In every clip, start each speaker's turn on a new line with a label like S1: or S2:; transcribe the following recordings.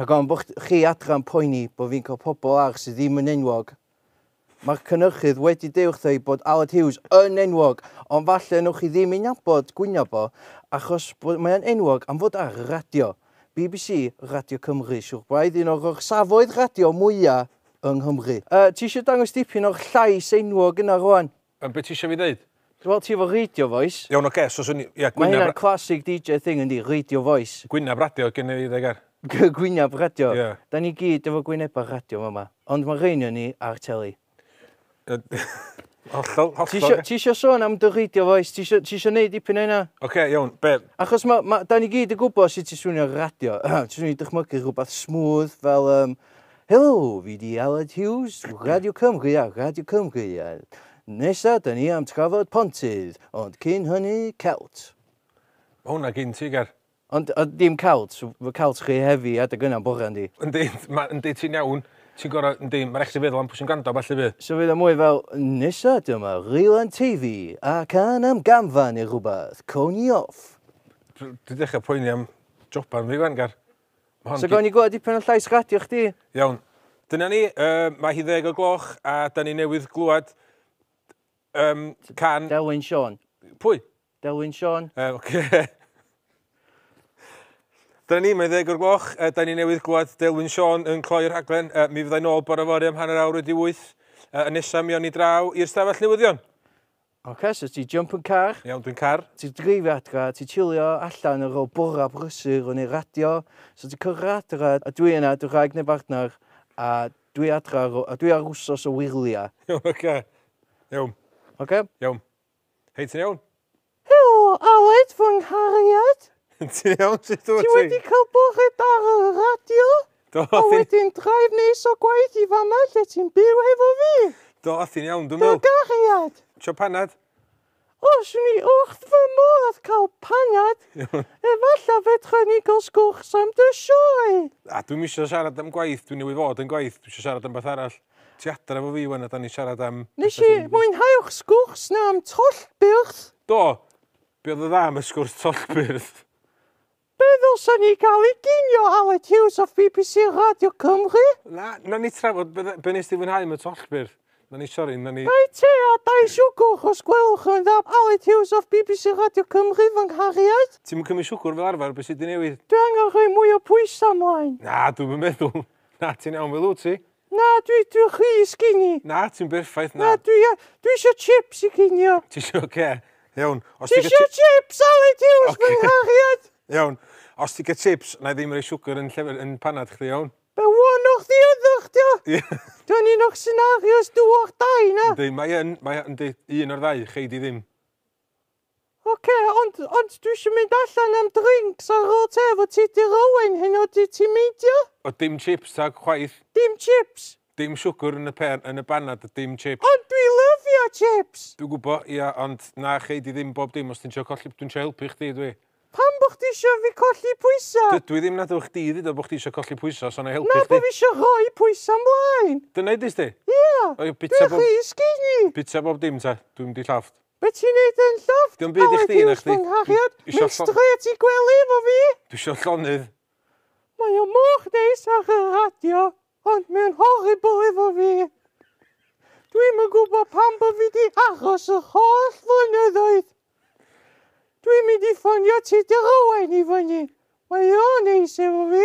S1: Rhag ofn bod
S2: chi adran poeni bod fi'n cael pobl arall sydd ddim yn enwog. Mae'r cynnyrchydd wedi deud wrtha i bod Aled Hughes yn enwog, ond falle newch chi ddim ei nabod gwyneb o, achos bod mae'n enwog am fod ar y radio. BBC, Radio Cymru, siwr braidd un o'r orsafoedd radio mwya yng Nghymru. Yy, ti eisiau dangos dipyn o'r llais enwog yna rwan? Yym, be ti isio fi ddeud?
S1: Wel, ti efo Radio
S2: Voice. Iawn, oce, so swn i... Ie, gwynab...
S1: Mae hynna classic
S2: DJ thing yndi, Radio Voice. Gwynab radio gen i fi,
S1: dde, Ger. Gwynab radio? Ie.
S2: Da ni gyd efo gwynebau radio fama, ond mae rhein yn ni ar teli.
S1: Hollol, hollol. Ti eisiau sôn
S2: am dy radio voice? Ti eisiau neud dipyn o hynna? Oce, iawn, be?
S1: Achos ma, ma, da ni
S2: gyd yn gwybod sut ti swnio radio. ti swnio i dychmygu rhywbeth smooth fel um, Helo, fi 'di Aled Hughes, Radio Cymru a Radio Cymru, a nesa da ni am trafod pontydd, ond cyn hynny, celt. Mae hwnna
S1: gyn ti, Ger. Ond a, dim
S2: celt, fy celt chi hefi adeg yna bore yndi? Yndi, ma, yndi ti'n
S1: iawn, ti'n gorau, yndi, mae'n rhaid i feddwl am pwy sy'n gwrando falle fi. So fydd o mwy fel,
S2: nesa dyma Rylan Teifi a can am gamfa neu rhywbeth, coni off. Dwi'n dechrau
S1: poeni am joban fi fan, Ger. Hon so gawn ni gweld
S2: dipyn o llais radio chdi. Iawn. Dyna
S1: ni, uh, mae hi ddeg o gloch a da ni newydd glwad um, can... Delwyn Sean.
S2: Pwy?
S1: Delwyn Sean.
S2: Uh, okay.
S1: Dyna ni, mae ddeg o'r gloch. Uh, da ni newydd glwad Delwyn Sean yn cloi'r rhaglen. Uh, mi fyddai nôl bore fori am hanner awr wedi wyth. Uh, yn nesaf mi o'n i draw i'r stafell newyddion. Ok, so
S2: ti jump yn car. Iawn, dwi'n car. Ti
S1: dreifio adra,
S2: ti chillio allan ar ôl bora brysur yn ei radio. So ti cyrra adra, a dwi yna, dy wraig neu bartner, a dwi adra, a dwi ar wsos o wyrlia. Iawn, ok.
S1: Iawn. Ok? Iawn. Hei, ti'n iawn? Helo,
S2: Aled, fy nghariad. ti'n iawn,
S1: sut dwi? Ti wedi cael bore
S2: da ar y radio? Do, a wedyn
S1: drive
S2: nes o gwaith i fama lle ti'n byw hefo fi. Do, a ti'n iawn,
S1: dwi'n meddwl. Do, gariad. Tio
S2: panad?
S1: Os
S2: swn i wrth fy modd cael panad, efallai fedra ni gael sgwrs am dy sioe. A dwi'm eisiau
S1: siarad am gwaith, dwi newydd fod yn gwaith, dwi eisiau siarad am beth arall. Ti adre fo fi wan a da ni siarad am... Nes i mwynhau'r
S2: sgwrs na am tollbyrth. Do,
S1: be oedd y dda am y sgwrs tollbyrth? Be
S2: ddylsan ni gael i ginio Aled Hughes off bbc Radio Cymru? Na, na ni
S1: trafod be, be nes ti fwynhau y tollbyrdd. Na ni, sori, na ni... Dau te a dau
S2: siwgwr os gwelwch yn dda Aled Hughes off bbc Radio Cymru fy nghariad. Ti'm yn cymryd siwgwr fel
S1: arfer, be sy' 'di newid? Dwi angen rhoi mwy o
S2: pwysau 'mlaen. Na, dwi'm yn meddwl.
S1: Na, ti'n iawn fel wyt ti. Na, dwi, dwi
S2: chi sgini. Na, ti'n berffaith,
S1: na. Na, dwi, dwi
S2: isio chips i cinio. Ti isio, oce. Okay.
S1: Iawn. Ti isio chips,
S2: Ali, ti yw'n okay. sbynghachiad. Iawn. Os
S1: ti'n cael chips, na i ddim rei siwgr yn, llefer, yn panad chdi, iawn? Be wan o'ch di
S2: ydych, dio? Dwi'n un o'ch scenarios dyw'ch dau, na? Ynddi, mae yn, mae
S1: yn, un o'r ddau, chei di ddim.
S2: Ok, ond, ond dwi isio mynd allan am drinks ar ôl te efo ti Dir Owen heno ydy ti'n meindio? O dim chips
S1: tag chwaith. Dim chips?
S2: Dim siwgr yn y
S1: pên, yn y banad a dim chips. Ond dwi lyfio
S2: chips! Dwi'n gwbo, ia,
S1: ond na chei di ddim bob dim os ti'n trio colli, dwi'n trio helpu chdi dwi. Pam bo chdi isio
S2: fi colli pwysa? Dydw i ddim nad ewch chdi
S1: dduda bo chdi isio colli pwysa so na i helpu chdi. Na bo fi isio rhoi
S2: pwysa mlaen. Dyna idis di?
S1: Ia,
S2: dwi rhy skinny! Bita bob dim te,
S1: dwi'm di llofft. Be ti'n neud yn
S2: llofft? Dim byd i chdi
S1: na chdi. Mynd strêt
S2: i gwely efo fi! Dwi isio llonydd.
S1: Mae
S2: o mor neis ar y radio ond mae'n horrible efo fi. Dwi'm yn gwybod pam bo fi di aros yr holl flynyddoedd. Dwi'n mynd i ffonio Tudur Owain i fyny. Mae o'n neis efo fi.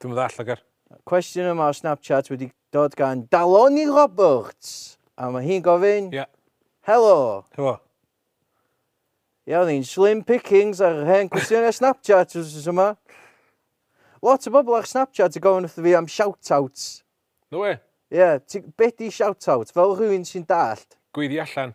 S2: Dwi'm yn ddall,
S1: Lloegr. Cwestiwn yma o
S2: Snapchat wedi dod gan Daloni Roberts. A mae hi'n gofyn... Ie. Helo. Helo. Ia, oedd hi'n slim pickings ar hen cwestiynau Snapchat wrth yma. Lot o bobl ar Snapchat yn gofyn wrth fi am shout-outs. No way. Ie,
S1: yeah, be
S2: di shout-out? Fel rhywun sy'n dallt. Gweiddi allan.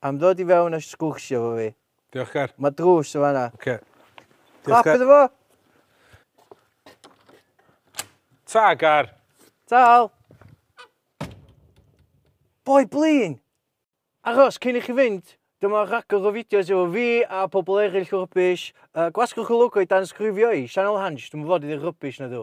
S2: Am ddod i fewn a sgwrsio efo fi. Diolch Ger. Mae drws
S1: yn fanna.
S2: Oce.
S1: Okay. Clap iddo
S2: fo!
S1: Ta, Gar! Tal!
S2: Boi blin! Aros cyn i chi fynd, dyma rhagor o fideos efo fi a pobl eraill rubbish. Uh, gwasgwch y logo i dan sgrifio i, Sianel Hansh, dwi'n fod i ddi rubbish na dw.